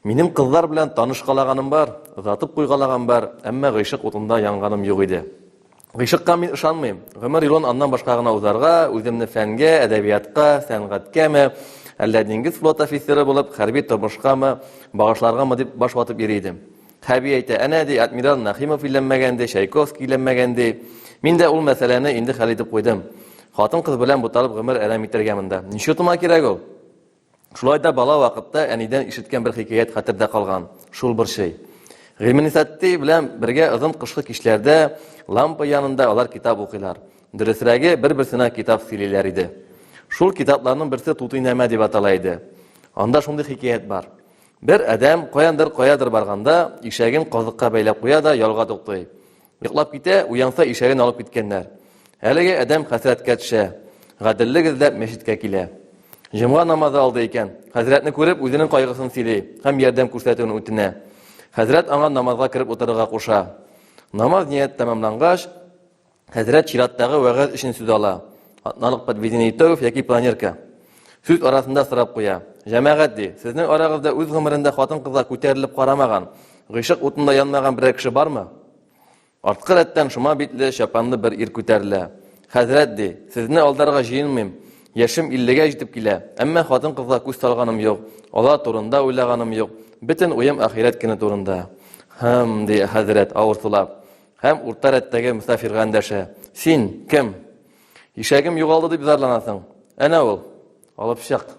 Минем кызлар белән танышкалаганым бар, озатып куйгалаган бар, әмма гыйшык утында янганым юк иде. Гыйшыкка мин ышанмыйм. Гомер юлын аннан башка гына узарга, үземне фәнгә, әдәбиятка, сәнгатькәме, әллә диңгез флот офицеры булып, хәрби тормышкамы, багышларгамы дип баш ватып йөри идем. Хәби әйтә, әнә ди, адмирал Нахимов өйләнмәгән ди, Чайковский өйләнмәгән ди. Мин дә ул мәсьәләне инде хәл итеп куйдым. Хатын-кыз белән буталып гомер әрәм итәргә монда. Ничотыма кирәк ул? Шулай да бала вакытта әнидән ишеткән бер хикәят хәтердә калган. Шул борчый. Гыйльменисатти белән бергә озын кышкы кичләрдә лампа янында алар китап укыйлар. Дөресрәге, бер-берсенә китап сөйлиләр иде. Шул китапларның берсе Тутый нәмә дип атала иде. Анда шундый хикәят бар. Бер адәм каяндыр каядыр барганда, ишәген казыкка бәйләп куя да ялга туктый. Йоклап китә, уянса ишәген алып киткәннәр. Әлеге адәм хәсрәткә төшә. Гаделлек эзләп мәчеткә килә. Җомга намазы алды икән. Хәзрәтне күреп, үзенең кайгысын сөйли һәм ярдәм күрсәтүен үтенә. Хәзрәт аңа намазга кереп утырырга куша. Намаз ният тәмамлангач, Хәзрәт чираттагы вәгазь өчен сүз ала. Атналык подведение итогов яки планерка. Сүз арасында сорап куя. Җәмәгать ди, сезнең арагызда үз гомерендә хатын-кызга күтәрелеп карамаган, гыйшык утында янмаган берәр кеше бармы? Арткы рәттән шома битле, чапанлы бер ир күтәрелә. Хәзрәт ди, сезне алдарга җыенмыйм. Яшем 50-гә җитеп килә, әмма хатын-кызга күз салганым юк, алар турында уйлаганым юк. Бөтен уем ахирәт көне турында. Хм, ди хәзрәт, авырсулап. Һәм урта рәттәге мөсафирга эндәшә. Син кем? Ишәгем югалды дип зарланасың. Әнә ул. Алып чык.